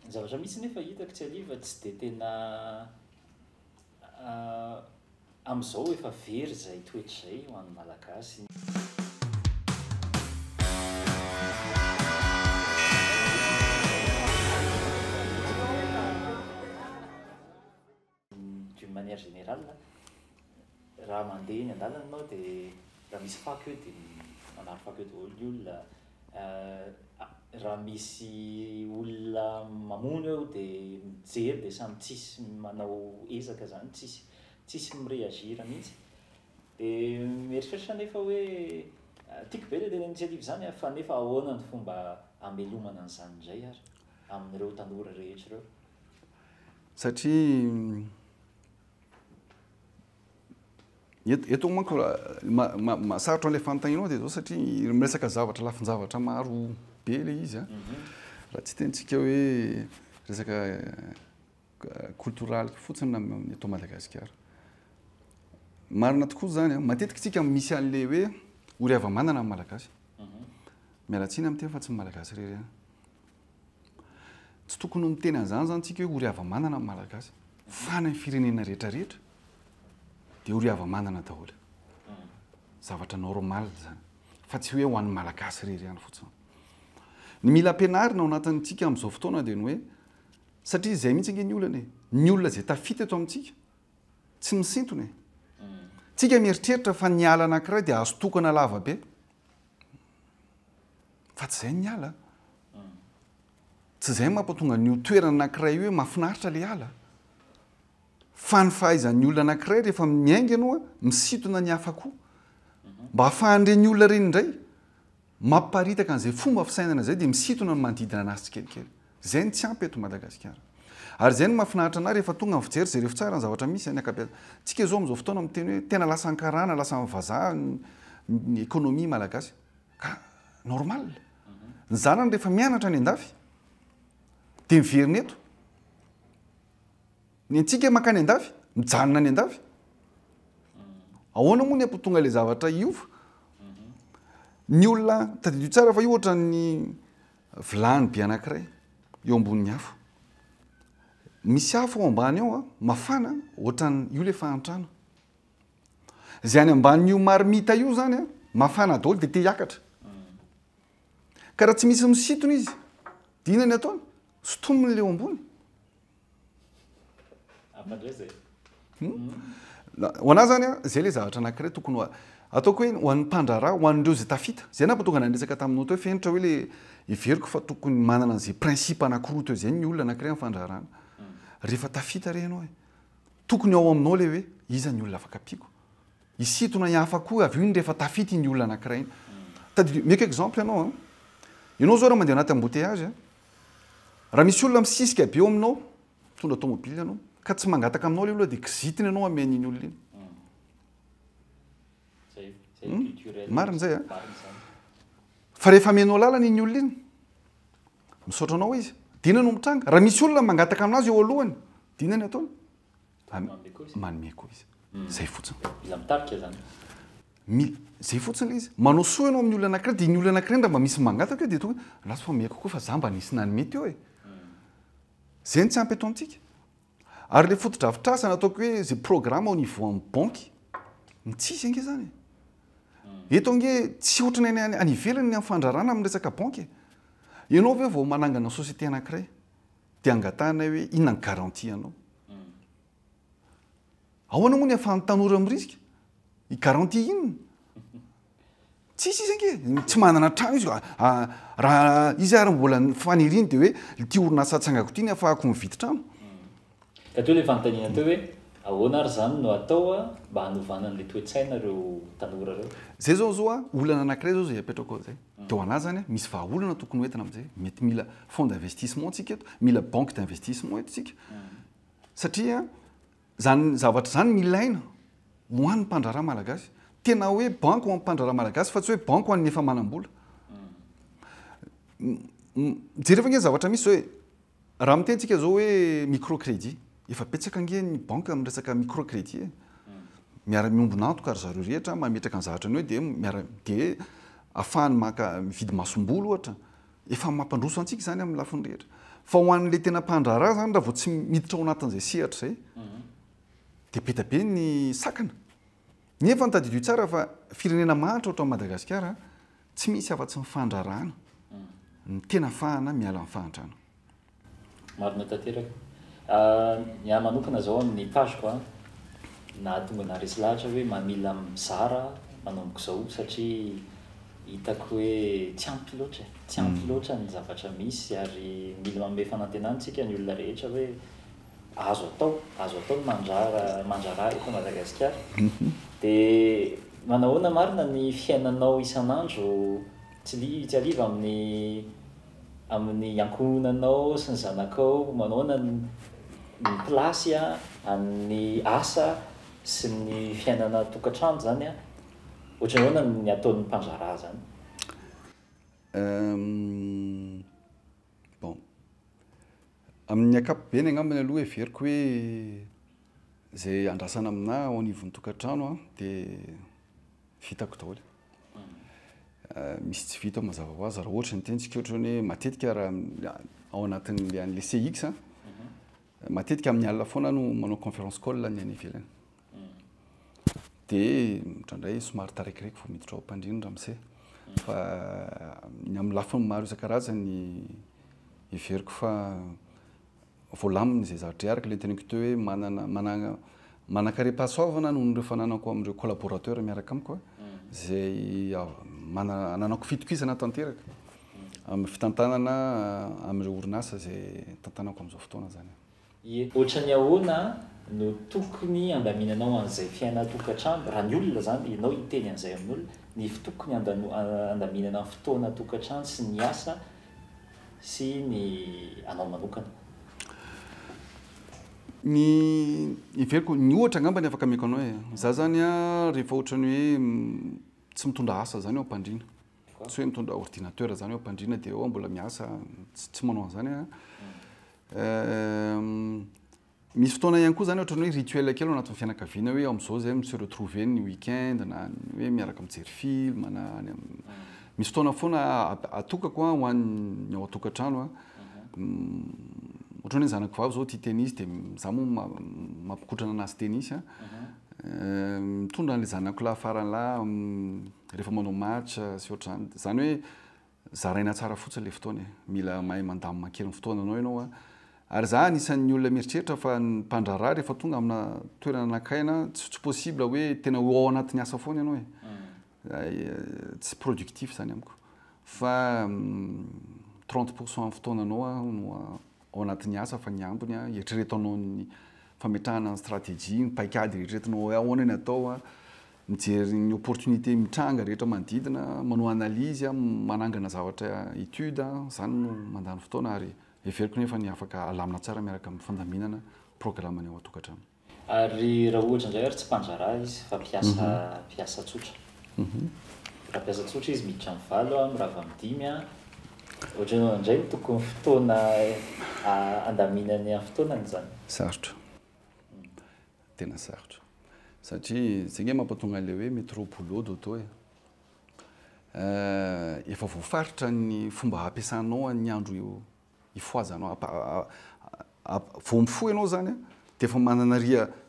Ny zavatra mihitsy nefa hitako tsy hariva tsy dia tena amin'izao efa very izay toetra izay ho an'ny Malagasy. D'une manière générale, raha mandeha eny an-dalana ianao dia raha misy fako eo dia manary fako eo daholo ny olona, raha misy olona mamono eo dia mijery dia samy tsisy manao ezaka izany, tsisy tsisy mi-réagir mihitsy. Dia mieritreritra anefa hoe tiako be ilay initiative izany an, fa nefa ahoana ny fomba hamelomana an'izany indray ary amin'ireo tanora rehetra ireo? Satria eto manko sarotra ilay fanontanianao dia izao satria miresaka zavatra lafin-javatra maro be ilay izy an. Mhm. Raha tsy tentsika hoe resaka koltoraly fotsiny eto Madagasikara. Marina tokoa izany an. Matetika tsika misy an'ilay hoe ory hava-manana ny Malagasy. Mhm. Miala tsiny amin'ny teny fa tsy ny Malagasy irery ihany. Tsy tokony ho miteny an'izany izany tsika hoe ory hava-manana ny Malagasy. Fa ny firenena rehetra rehetra dia ory hava-manana daholo. Zavatra normal izany. Fa tsy hoe ho an'ny Malagasy irery ihany fotsiny. Ny mila ampianarina ao anatin'ny tsika amin'izao fotoana dia ny hoe satria izay mihitsy ange ny olana e. Ny olona izay tafita eto amintsika tsy misintona e. Tsika mieritreritra fa ny ala anankiray dia azo tokana lava be. Fa tsy izay ny ala. Tsy izay mampatonga ny ho toerana anankiray hoe mafinaritra ilay ala. Fa ny fahaizan'ny olona anankiray rehefa miainga aloha misintona ny hafa koa. Mba hahafahan'ireny olona ireny indray mamparitaka an'izay fomba fisainana izay dia misintona ny manodidina an'azy tsikelikely. Zay no tsy ampy eto Madagasikara. Ary zay no mahafinaritra anah rehefa tonga ny fijery, jereo ftsara ny zavatra misy any akabeazana. Tsika zao amzao fotoana miteny hoe tena lasan'ny karana, lasan'ny vazaha ny economie malagasy. Ka normal. Ny zanany rehefa mianatra any andafy dia miverina eto. Ny antsika mankany andafy, mijanona any andafy. Ahoana moa ny hampitonga ilay zavatra hiova? Ny olona, tadidio tsara fa io ohatran'ny Vilany be anankiray eo ambonin'ny afo. Misy afo ao ambany ao a, mafana ohatran'ny io le fahantrana. Zay any ambanin'io marmita io zany a, mafana daholo de te hiakatra. Ka raha tsy misy misintona izy, dia inona ny ataony? Sotominy le eo ambony. Ho an'ahy izany, izay ilay zavatra anankiray tokony ataoko hoe ho an'ny mpandraharaha, ho an'ireo izay tafita. Izay nahatonga anay niresaka taminao teo fenitra hoe ilay heveriko fa tokony manana an'izay principe anankiroa teo izay ny olona anankiray amin'ny fandraharahana. Rehefa tafita re ianao e! Tokony ao aminao ilay hoe iza ny olona afaka ampiako. Hisintona ny hafa koa avy eo iny rehefa tafita iny olona anankiray iny. Tadidio, meko exemple ianao an! Ianao izao raha mandeha ao anaty embouteillage, Raha misy olona misisika be eo aminao, mitondra tomobily ianao, ka tsy mangataka aminao ilay olona dia kizitina ianao hamehy an'iny olona iny. Hmm? Marina izay a. Fa rehefa amenao lalana iny olona iny, misaotra anao izy, dina no mitranga. Raha misy olona mangataka aminazy eo alohany, dina ny ataony. Manome koa izy. Manome koa izy. Hmm. Zay fotsiny. Iza mitarika zany? Mila zay fotsiny le izy. Manao soa ianao amin'ny olona anankiray dia ny olona anankiray ndra mba misy mangataka eo dia toa ratsy fa mihaiko koa fa za mba nisy nanome teo e. Zay ny tsy ampy eto amintsika. Ary le fotodrafitrasa nataoko hoe zay programme au niveau amin'ny banky. Ny tsisy ange zany. Eto ange tsy ohatrany any any ivelany ny amin'ny fandrarana amin'ny resaka banky. Ianao ve vao manangana société anankiray Dia angatahanay hoe inona ny garantie anao? Ahoana moa ny ahafahan'ny tanora mirisika? I garantie inona? Tsisy izy ange, tsy manana trano izy. Raha izy ary mbola ny faniriany dia hoe ity orinasa atsangako ity ny ahafahako mividy trano. Ka teo ilay fanontaniana teo hoe ahoana ary izany no atao mba hanovana an'ilay toe-tsaina ireo tanora ireo? Izay izao zao olana anankiray izao izay apetrako izay. Teo anazany, misy vahaolana tokony hoentina amin'izay. Mety mila fonds d'investissement tsika eto, mila banque d'investissement eto tsika. Satria izany zavatra izany no ilaina ho an'ny mpandraharaha malagasy. Tena hoe banque ho an'ny mpandraharaha malagasy fa tsy hoe banque ho an'ny efa manam-bola. Jereo ve ange ny zavatra misy izao e! Raha miteny tsika zao hoe micro credit, efa betsaka ange ny banque miresaka micro credit e! miara miombona antoka ry zareo rehetra mametraka ny zahatrany eo dia miara dia afahany maka mividy masomboly ohatra, efa mampandroso antsika zany amin'ny lafiny rehetra. Fa ho an'le tena mpandraharaha zany raha vao tsy miditra ao anatin'izay sehatra izay dia be dia be ny sakana. Nefa tadidio tsara fa firenena mahantra ohatran'i Madagasikara Tsy misy afa-tsy ny fandrarana ny tena afahana miala amin'ny fahantrana. Marina tanteraka. Ny ahy manokana zao amin'ny page ko nahatonga anah resy lahatra hoe mamila mizara manomboka izao satria hitako hoe tsy ampy loatra e, tsy ampy loatra ny zavatra misy ary mila manome fanantenana tsika ny olona rehetra hoe Azo atao, azo atao ny mandrara, mandrara eto Madagasikara. Dia manahoana marina ny fiainanao isan'andro tsy li, tsy hariva amin'ny, amin'ny ankohonanao sy ny zanakao? Manahoana ny, ny place an, ny asa sy ny fiainana an-tokantrano zany an? Ohatry ny ahoana ny ataon'ny mpandrara zany? Uhm. Bon. Amin'ny ankapobeny angambany aloha heveriko hoe izay andrasana aminà ao anivon'ny tokantrano dia vitako daholo. Misy tsy vita mazava ho azy raha ohatra ny tenitsika ohatra hoe matetika raha ao anatin'ilay an'ilay CX, matetika amin'ny alina foana aho no manao conférence call ny any ivelany. Dia indraindray somary tarikireiko vao miditra ao am-pandriana ramose. Fa ny amin'ny lafiny maro isan-karazany heveriko fa voalamina izay zavatra iarako. Ilay noteneniko teo hoe manana manana manan-karem-pahasoavana noho ireo fananako amin'ireo collaborateurs miaraka amiko izay manana ananako fitokisana tanteraka amin'ny fitantanana amin'ireo orinasa izay tantanako amin'izao fotoana izany. Ie ohatran'ny ahoana no tokony handaminanao an'izay fiainan-tokantrano, raha ny olona izany, ianao hiteny an'izay amin'olona, ny tokony handaminana ny fotoana an-tokantrano sy ny asa sy ny anao manokana? Ny heveriko, ny ohatra angamba ny afaka ameko anao e, za zany an rehefa ohatran'ny hoe tsy mitondra asa zany aho am-pandriana, tsy hoe mitondra ordinateur zany eo ampandriana dia eo mbola miasa tsy manao an'izany a misy fotoana ihany koa zany ohatrany hoe rituel kely anatin'ny fianakaviana hoe amin'izao zay mi-se retrouver ny week-end na hoe miaraka mijery film na any amin'ny misy fotoana foana atokako ho an'ny ao an-tokantrano a ohatrany hoe ny zanako vavy zao tia tennis dia za moa mampikotrana anazy tennis a Mitondra an'ilay zanako lahy farany lahy rehefa manao match sy ohatr'izany. Izany hoe zaraina tsara fotsiny ilay fotoana e. Mila mahay mandamina kely ny fotoananao ianao an. Ary izaho anisan'ny olona mieritreritra fa ny mpandraharaha rehefa tonga amina toerana nankay na tsy possible hoe tena ho ao anatin'ny asa foana ianao e. tsy productif izany amiko fa trente pour cent fotoananao no ao anatin'ny asa fa ny ambiny eritrereto anao ny fametrahana ny stratégie, ny paikady eritreretinao hoe ahoana ny atao, mijery ny opportunité mitranga rehetra manodidina, manao analyse, manangana zavatra étude, izany no mandany fotoana ary heveriko nefa ny afaka alamina tsara miaraka amin'ny fandaminana programme ny ao an-tokantrano. Ary raha ohatra indray ary tsy mpandraharaha izy fa mpiasa mpiasa tsotra. Raha mpiasa tsotra izy miditra amin'ny valo a, mirava amin'ny dimy a, ohatra hoe indray ny tokony fotoana handaminany amin'ny fotoanany izany. Sarotra. Tena sarotra. Satria izay ange mampatonga an'ilay hoe métro boulot dodo e. Efa voafaritra ny fomba hampiasanao ny andro Hifohaza anao, vao mifoha ianao izany dia efa manana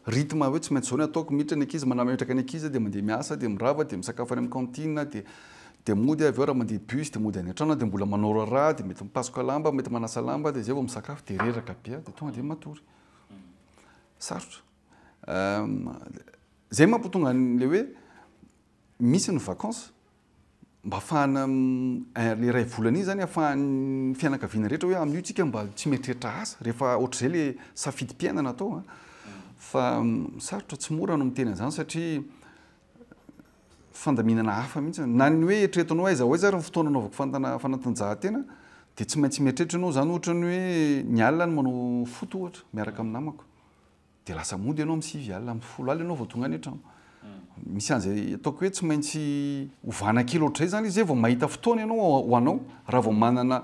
rythme hoe tsy maintsy izao no ataoko, miditra ny ankizy, manametraka ny ankizy dia mandeha miasa, dia mirava, dia misakafo any amin'ny cantine, dia dia mody avy eo raha mandeha bus dia mody any an-trano dia mbola manao raharaha, dia mety mipasoka lamba, mety manasa lamba, dia izay vao misakafo dia reraka be dia tonga dia matory. Sarotra. Izay mampitonga an'ilay hoe misy ny vacances mba afahana le iray volana iny zany afahan'ny fianakaviana rehetra hoe amin'io tsika mba tsy mieritreritra asa rehefa ohatr'izay le safidim-piainana atao an fa sarotra tsy mora no miteny an'izany satria fandaminana hafa mihitsy na ny hoe eritreretinao aiza ho aiza ary ny fotoana anaovako fantana fanatanjahantena dia tsy maintsy mieritreritra ianao izany ohatra ny hoe ny alina no manao foot ohatra miaraka amin'ny namako Dia lasa mody ianao amin'ny sivy alina, amin'ny folo alina ianao vao tonga any an-trano. Misy an'izay ataoko hoe tsy maintsy ovana kely ohatr'izay izany izy zay vao mahita fotoana ianao ho anao, raha vao manana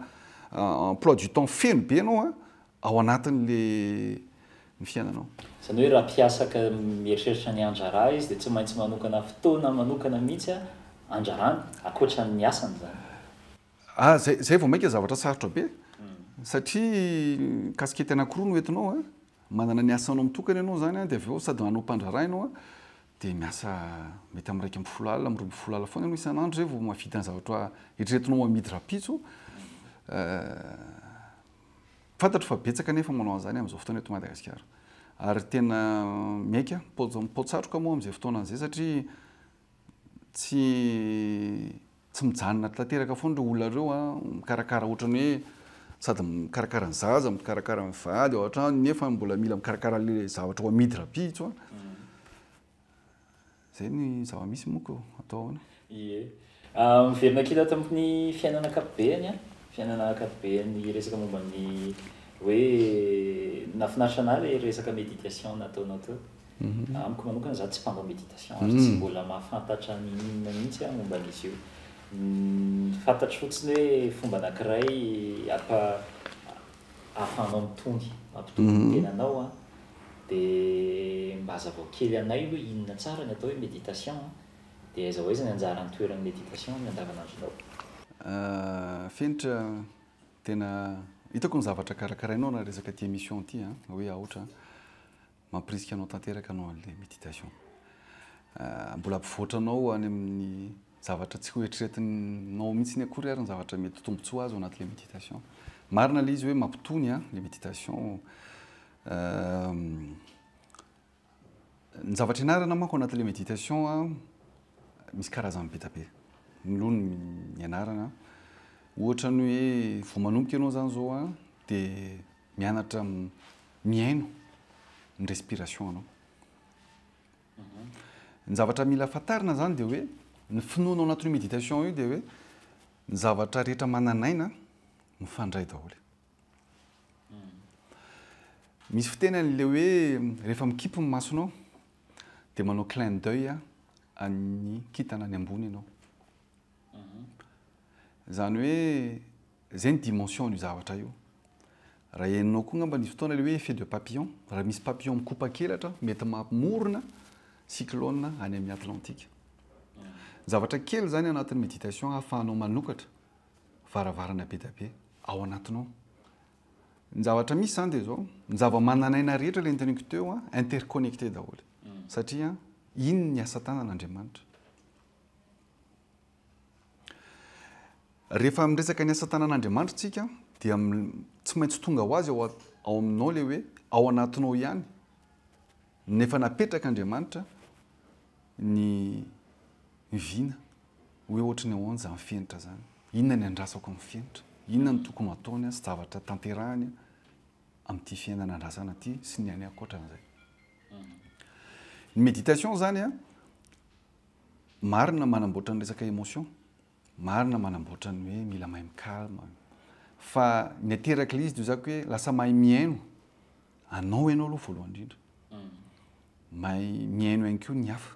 emploi du temps feno be ianao ao anatin'ilay ny fiainanao. Izany hoe raha mpiasa ka mieritreritra ny handrara izy dia tsy maintsy manokana fotoana manokana mihitsy handrarany, ankoatra ny asany izany. Ah, izay vao mainka zavatra sarotra be, satria kasikety anankiroa no entinao an, Manana ny asanao mitokana ianao izany dia avy eo sady manao mpandraharaha ianao dia miasa mety amin'ny iraika ambin'ny folo alina, amin'ny roa ambin'ny folo alina foana ianao isan'andro izay vao mahavita ny zavatra eritreretinao ho amidy rahampitso. Fantatro fa betsaka ny efa manao an'izany amin'izao fotoana eto Madagasikara ary tena miaika am-pao-tsatroka moa amin'izay fotoana izay satria tsy Tsy mijanona tanteraka foana ireo olona ireo an, mikarakara ohatrany hoe sady mikarakara ny zaza, mikarakara ny vady ao an-trano nefa mbola mila mikarakara an'ilay zavatra ho amidy rahampitso an. Izay ny zava-misy moa ko, atao ahoana? Ie. Miverina kely ato amin'ny fiainana ankapobeany an, fiainana ankapobeany resaka momba ny hoe nahafinaritra anah ilay resaka méditation nataonao teo. Amiko manokana za tsy mpanao méditation ary tsy mbola mahafantatra ny inona mihitsy aho momba an'izy io. Ny fantatro fotsiny hoe fomba anankiray ampa ahafahanao mitony, mampitony ny tenanao an. Dia mba hazavao kely anay hoe inona tsara ny atao hoe méditation an. Dia aiza ho aiza ny anjaran'ny toeran'ny méditation amin'ny andavanandronao? Fenitra tena hitako ny zavatra karakarainao raha resaka ity émission ity an, hoe aotra an. Mampirisika anao tanteraka anao an'ilay méditation. Mbola hampivoatra anao any amin'ny zavatra tsy hoeritreretinao mihitsy akory ary ny zavatra mety ho tombontsoa azo anatin'ilay méditation. Marina ilay izy hoe mampitony ilay méditation. Ny zavatra ianarana manko anatin'ilay méditation misy karazany be dia be. Mialoha ny ianarana, ohatra ny hoe vao manomboka ianao izany izao dia Mianatra mihaino ny respiration anao. Ny zavatra mila fantarina zany dia hoe ny finoana ao anatin'io méditation io dia hoe ny zavatra rehetra manan'aina mifandray daholo. Misy fiteny an'le hoe rehefa mikipy ny masonao dia manao clin d'oeil an'ny kintana any ambony ianao. Izany hoe izay ny dimension io zavatra io. Raha henonao koa angamba nisy fotoana ilay hoe effet de papillon, raha misy papillon mikopaka elatra mety mamorona cyclone any amin'ny Atlantika. Zavatra kely izany anatin'ny méditation ahafahanao manokatra varavarana be dia be ao anatinao. Ny zavatra misy izany dia izao, ny zava-manan'aina rehetra ilay niteniko teo interconnecté daholo. Satria iny ny asa tanan'Andriamanitra. Rehefa miresaka ny asa tanan'Andriamanitra isika dia tsy maintsy tonga ho azy ao ao aminao ilay hoe ao anatinao ihany ny efa napetrak'Andriamanitra ny vina hoe ohatry ny ahoana izany fenitra izany, inona ny andrasako amin'ny fenitra, inona ny tokony hataony sy zavatra tanterahany amin'ity fiainana andrasana ity sy ny any ankoatran'izay. Ny méditation izany Marina manamboatra ny resaka emotion, marina manamboatra ny hoe mila mahay mi-calme, fa ny aterak'ilay izy dia hoy za hoe lasa mahay mihaino anao ianao aloha voalohany indrindra, mahay mihaino ihany koa ny hafa.